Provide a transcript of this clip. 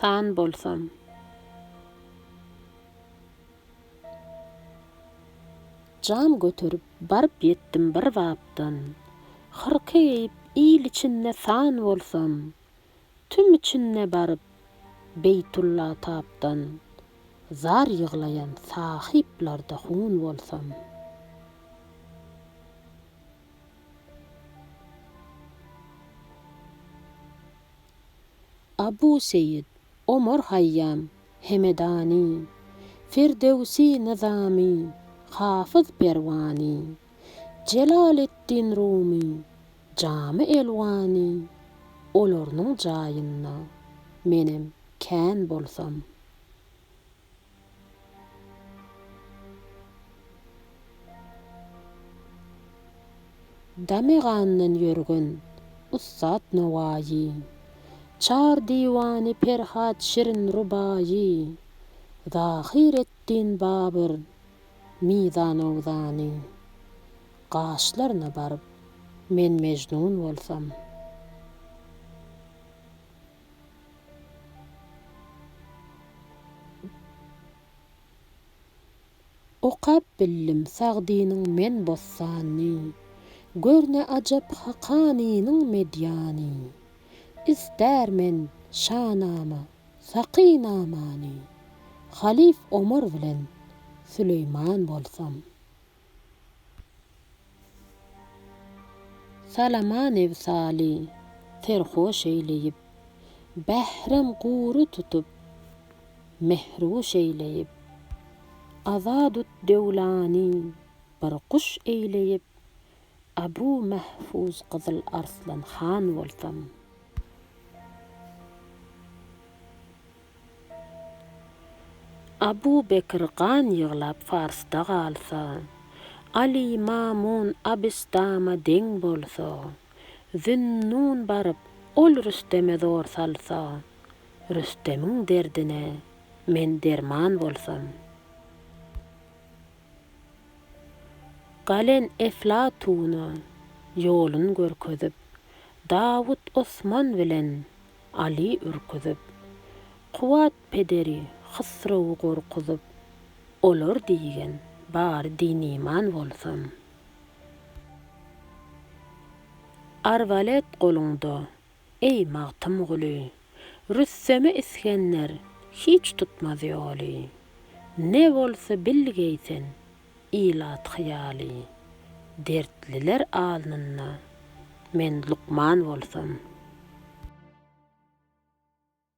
San bolsam. Jan göterip, baryp ýetdim bir bapdan. Hyrka geýip, il içinde san bolsam. Tüm içinde baryp, Beýtulla tapdan. Zar ýyglaýan sahyplarda hun bolsam. Abu Seýit, Omar Haýýam, Hemedany, Firdöwsi Nyzamy, Hafyz Perwany, Jelaleddin Rumy, Jamy Elwany, olarynyň jaýynda menem kän bolsam. Dame-gandan ýörgün ussat Nowaýy. Çar diwany Perhat şirin rubaýy. Zahyr etdin Babyr mizanowzany. Gaşlaryna baryp men Mejnun bolsam. Okap bildim Sagdynyň men bossanyny, Gör ne ajap Hakanynyň medýany. Ister men Şanama, Sakynamany, Halyf Omar bilen Süleýman bolsam. Salama Nebsaly serhoş eýleýip. Bährem gury tutup, mähruş eýleýip. Azadut Döwlany bir guş eýleýip. Abu Mahfuz Gyzyl Arslan han bolsam. Abu Bekr gan ýyglap Farsda galsa, Aly Mamun Abystama deň bolsa, Zünnun baryp ol Rüsteme zor salsa, Rüstemiň derdine men derman bolsam. Galen Eflatuna ýolun görkezip, Dawut Osman bilen Aly ürküzip. Kuwwat pederi Hysrowy gorkuzyp. Olar diýgen, bary diniman bolsam. Arbalet goluňda, eý, Magtymguly! Rüsteme Isgender hiç tutmaz ýoly. Ne bolsa bilgeý sen, Ilat hyýaly, Dertliler alnynda men lukman bolsam.